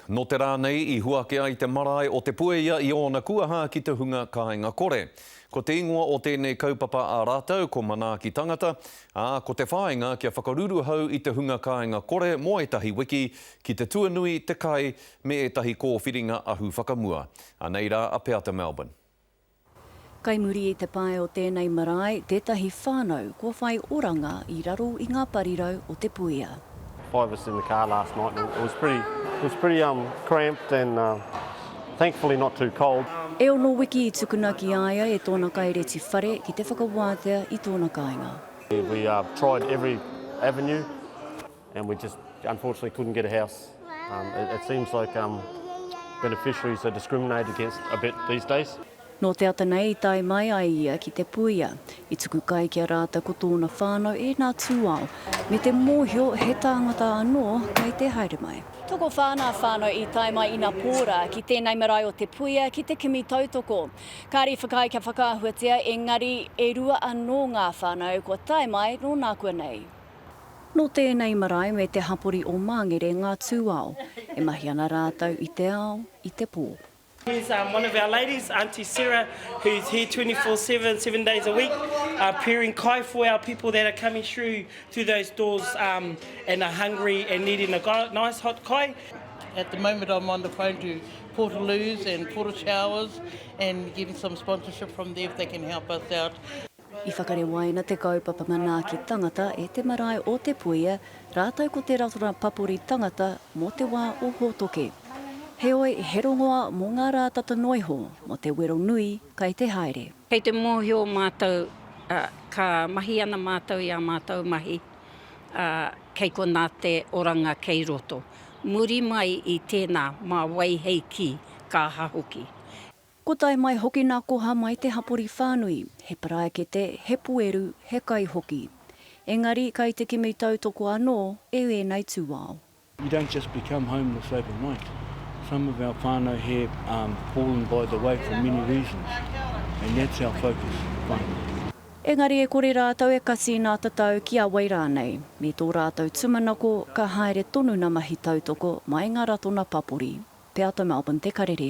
Nō te rā nei i huaki ai te marae o Te Puea i ōna kuaha ki te hunga kāinga kore. Ko te ingoa o tēnei kaupapa a rātou ko Manaaki Tangata, ā, ko te whāinga kia whakaruruhau i te hunga kāinga kore mō ētahi wiki ki te tuanui, te kai, me ētahi kōwhiringa ahu whakamua. Anei rā a Peata Melbourne. Kai muri i te pae o tēnei marae tētahi whānau kua whai oranga i raro i ngā parirau o te puia. Five of us in the car last night and it was pretty it was pretty um cramped and thankfully not too cold. E ono wiki i tukuna ki a ia e tōna kaireti whare ki te whakawātea i tōna kāinga. We tried every avenue. and we just unfortunately couldn't get a house. Um, it, it seems like um, beneficiaries are discriminated against a bit these days. Nō te ata nei i tae mai ai ia ki Te Puia. I tuku kai ki a rātou ko tōna whānau e nā tūao, me te mōhio he tāngata anō kei te haere mai. Tokowhā nā whānau i tae mai ina pōra ki tēnei marae o Te Puia ki te kimi tautoko. Kāri whakaae kia whakaahuatia engari e rua anō ngā whānau kua tae mai nō nākuanei. Nō tēnei marae me te hapori o Māngere ngā tūao, e mahi ana rātou i te ao, i te pō. Here's um, one of our ladies, Auntie Sarah, who's here 24 7, seven days a week, uh, preparing kai for our people that are coming through through those doors um, and are hungry and needing a nice hot kai. At the moment, I'm on the phone to Portaloos and Porter Showers and getting some sponsorship from there if they can help us out. I whakarewaina te kaupapa manaaki tangata e te marae o Te Puea rātou ko te ratonga papori tangata mō te wā o Hōtoke. Heoi, he rongoa mō ngā rā tata noa iho mō te wero nui kai te haere. Kei te mōhio mātou, ā, ka mahi ana mātou i ā mātou mahi, ā, kei konā te oranga kei roto. Muri mai i tēnā, mā wai hei kī, ka aha hoki. Ko tae mai hoki na koha mai te hapori whanui, he paraekete, he pueru, he kai hoki. Engari kai te kimi tautoko anō e ēnei tūao. You don't just become homeless overnight. Some of our whanau here um fallen by the way for many reasons and that's our focus finally. Engari e kore rātou e kasi i nā tatau ki a wai rānei, me tō rātou tumanako ka haere tonu na mahi tautoko mai ngā ratona papori. Te Ata Melbourne te karere.